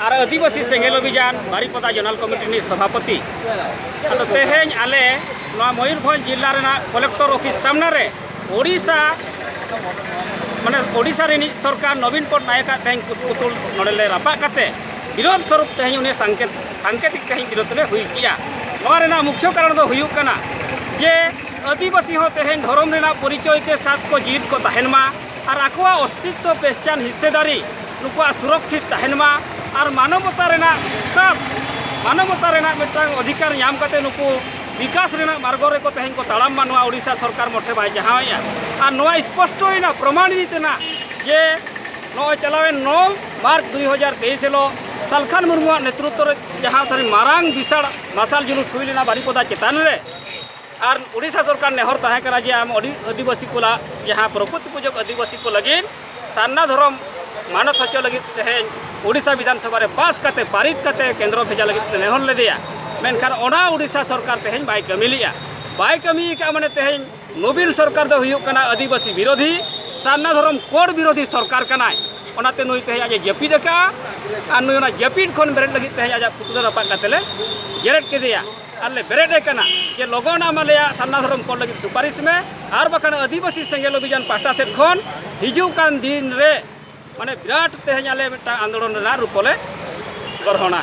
ᱟᱨ ᱟᱹᱫᱤᱵᱟᱹᱥᱤ ᱥᱮᱸᱜᱮᱞ ᱚᱵᱷᱤᱡᱟᱱ Baripada zonal committee ᱨᱤᱱᱤᱡ ᱥᱚᱵᱷᱟᱯᱚᱛᱤ ᱟᱫᱚ ᱛᱮᱦᱮᱧ ᱟᱞᱮ ᱱᱚᱣᱟ ᱢᱚᱭᱩᱨᱵᱷᱚᱸᱡᱽ ᱡᱤᱞᱟ ᱨᱮᱱᱟᱜ ᱠᱚᱞᱮᱠᱴᱚᱨ ᱚᱯᱷᱤᱥ ᱥᱟᱢᱱᱟ ᱨᱮ ᱳᱰᱤᱥᱟ ᱢᱟᱱᱮ ᱳᱰᱤᱥᱟ ᱨᱤᱱᱤᱡ ᱥᱚᱨᱠᱟᱨ ᱱᱚᱵᱤᱱ ᱯᱚᱴᱱᱟᱭᱮᱠ ᱟᱜ ᱛᱮᱦᱮᱧ ᱠᱩᱥᱯᱩᱛᱩᱞ ᱱᱚᱰᱮ ᱞᱮ ᱨᱟᱯᱟᱜ ᱠᱟᱛᱮ ᱵᱤᱨᱳᱫᱷ ᱥᱚᱨᱩᱯ ᱛᱮᱦᱮᱧ ᱩᱱᱤ ᱥᱟᱝᱠᱮᱛ ᱥᱟᱝᱠᱮᱛᱤᱠ ᱛᱮᱦᱮᱧ ᱵᱤᱨᱳᱫᱷ ᱞᱮ ᱦᱩᱭ ᱠᱮᱜᱼᱟ ᱱᱚᱣᱟ ᱨᱮᱱᱟᱜ ᱢᱩᱠᱷᱭᱚ ᱠᱟᱨᱚᱱ ᱫᱚ ᱦᱩᱭᱩᱜ ᱠᱟᱱᱟ ᱡᱮ ᱟᱹᱫᱤᱵᱟᱹᱥᱤ ᱦᱚᱸ ᱛᱮᱦᱮᱧ ᱫᱷᱚᱨᱚᱢ ᱨᱮᱱᱟᱜ ᱯᱚᱨᱤᱪᱚᱭ ᱛᱮ ᱥᱟᱛ ᱠᱚ ᱡᱤᱭᱤᱫ ᱠᱚ ᱛᱟᱦᱮᱱ ᱢᱟ ᱟᱨ ᱟᱠᱚᱣᱟᱜ ᱚᱥᱛᱤᱛᱛᱚ ᱯᱮᱦᱪᱟᱱ ᱦᱤᱥᱥᱮᱫᱟᱨᱤ ᱱᱩᱠᱩᱣᱟᱜ ᱥᱩᱨᱚᱠᱷᱤᱛ ᱛᱟᱦᱮᱱ ᱢᱟ ᱟᱨ ᱢᱟᱱᱚᱵᱚᱛᱟ ᱨᱮᱱᱟᱜ ᱥᱟᱛ ᱢᱟᱱᱚᱵᱚᱛᱟ ᱨᱮᱱᱟᱜ ᱢᱤᱫᱴᱟᱝ ᱚᱫᱷᱤᱠᱟᱨ ᱧᱟᱢ ᱠᱟᱛᱮ ᱱᱩᱠᱩ ᱵᱤᱠᱟᱥ ᱨᱮᱱᱟᱜ ᱢᱟᱨᱜᱚ ᱨᱮᱠᱚ ᱛᱮᱦᱮᱧ ᱠᱚ ᱛᱟᱲᱟᱢ ᱢᱟ ᱱᱚᱣᱟ ᱳᱰᱤᱥᱟ ᱥᱚᱨᱠᱟᱨ ᱢᱚᱴᱷᱮ ᱵᱟᱭ ᱡᱟᱦᱟᱣᱮᱜᱼᱟ ᱟᱨ ᱱᱚᱣᱟ ᱥᱯᱚᱥᱴᱚᱭᱮᱱᱟ ᱯᱨᱚᱢᱟᱱᱤᱛ ᱮᱱᱟ ᱡᱮ ᱱᱚᱜᱼᱚᱭ ᱪᱟᱞᱟᱣᱮᱱ ᱱᱚ ᱢᱟᱨᱪ ᱫᱩᱭ ᱦᱟᱡᱟᱨ ᱛᱮᱭᱤᱥ ᱦᱤᱞᱳᱜ ᱥᱟᱞᱠᱷᱟᱱ ᱢᱩᱨᱢᱩᱣᱟᱜ ᱱᱮᱛᱨᱚᱛᱛᱚ ᱨᱮ ᱡᱟᱦᱟᱸ ᱛᱟᱹᱨᱤ ᱢᱟᱨᱟᱝ ᱵᱤᱥᱟᱲ ᱢᱟᱨᱥᱟᱞ ᱡᱩᱞᱩᱥ ᱦᱩᱭ ᱞᱮᱱᱟ ᱵᱟᱨᱤᱯᱚᱫᱟ ᱪᱮᱛᱟᱱ ᱨᱮ ᱟᱨ ᱩᱰᱤᱥᱟ ᱥᱚᱨᱠᱟᱨ ᱱᱮᱦᱚᱨ ᱛᱟᱦᱮᱸ ᱠᱟᱱᱟ ᱡᱮ ᱟᱢ ᱟᱹᱰᱤ ᱟᱹᱫᱤᱵᱟᱹᱥᱤ ᱠᱚ ᱞᱟᱜ ᱡᱟᱦᱟᱸ ᱯᱨᱚᱠᱨᱤᱛᱤ ᱯᱩᱡᱚᱠ ᱟᱹᱫᱤᱵᱟᱹᱥᱤ ᱠᱚ ᱞᱟᱹᱜᱤᱫ ᱥᱟᱨᱱᱟ ᱫᱷᱚᱨᱚᱢ ᱢᱟᱱᱚᱛ ᱦᱚᱪᱚ ᱞᱟᱹᱜᱤᱫ ᱛᱮᱦᱮᱧ ᱩᱰᱤᱥᱟ ᱵᱤᱫᱷᱟᱱ ᱥᱚᱵᱷᱟ ᱨᱮ ᱯᱟᱥ ᱠᱟᱛᱮ ᱯᱟᱨᱤᱛ ᱠᱟᱛᱮ ᱠᱮᱱᱫᱨᱚ ᱵᱷᱮᱡᱟ ᱞᱟᱹᱜᱤᱫ ᱱᱮᱦᱚᱨ ᱞᱮᱫᱮᱭᱟ ᱢᱮᱱᱠᱷᱟᱱ ᱚᱱᱟ ᱩᱰᱤᱥᱟ ᱥᱚᱨᱠᱟᱨ ᱛᱮᱦᱮᱧ ᱵᱟᱭ ᱠᱟᱹᱢᱤ ᱞᱮᱜᱼᱟ ᱵᱟᱭ ᱠᱟᱹᱢᱤ ᱟᱠᱟᱫ ᱢᱟᱱᱮ ᱛᱮᱦᱮᱧ ᱱᱚᱵᱤᱱ ᱥᱚᱨᱠᱟᱨ ᱫᱚ ᱦᱩᱭᱩᱜ ᱠᱟᱱᱟ ᱟᱹᱫᱤᱵᱟᱹᱥᱤ ᱵᱤᱨᱳᱫᱷᱤ ᱥᱟᱨᱱᱟ ᱫᱷᱚᱨᱚᱢ ᱠᱳᱰ ᱵᱤᱨᱳᱫᱷᱤ ᱥᱚᱨᱠᱟᱨ ᱠᱟᱱᱟᱭ ᱚᱱᱟᱛᱮ ᱱᱩᱭ ᱛᱮᱦᱮᱧ ᱟᱡ ᱡᱟᱹᱯᱤᱫ ᱟᱠᱟᱫᱼᱟ ᱟᱨ ᱱᱩᱭ ᱚᱱᱟ ᱡᱟᱹᱯᱤᱫ ᱠᱷᱚᱱ ᱵᱮᱨᱮᱫ ᱞᱟᱹᱜᱤᱫ ᱛᱮᱦᱮᱧ ᱟᱡᱟᱜ ᱯᱩᱛᱞᱟᱹ ᱨᱟᱯᱟᱜ ᱠᱟᱛᱮ ᱞᱮ ᱡᱮᱨᱮᱫ ᱠᱮᱫᱮᱭᱟ ᱟᱞᱮ ᱵᱮᱨᱮᱫ ᱠᱟᱱᱟ ᱡᱮ ᱞᱚᱜᱚᱱ ᱟᱢ ᱟᱞᱮᱭᱟᱜ ᱥᱟᱨᱱᱟ ᱫᱷᱚᱨᱚᱢ ᱠᱚᱞ ᱞᱟᱹᱜᱤᱫ ᱥᱩᱯᱟᱨᱤᱥ ᱢᱮ ᱟᱨ ᱵᱟᱠᱷᱟᱱ ᱟᱹᱫᱤᱵᱟᱹᱥᱤ ᱥᱮᱸᱜᱮᱞ ᱚᱵᱷᱤᱡᱟᱱ ᱯᱟᱦᱴᱟ ᱥᱮᱫ ᱠᱷᱚᱱ ᱦᱤᱡᱩᱜ ᱠᱟᱱ ᱫᱤᱱ ᱨᱮ ᱢᱟᱱᱮ ᱵᱤᱨᱟᱴ ᱛᱮᱦᱮᱧ ᱟᱞᱮ ᱢᱤᱫᱴᱟᱝ ᱟᱱᱫᱳᱞᱚᱱ ᱨᱮᱱᱟᱜ ᱨᱩᱯ ᱞᱮ ᱜᱨᱚᱦᱚᱱᱟ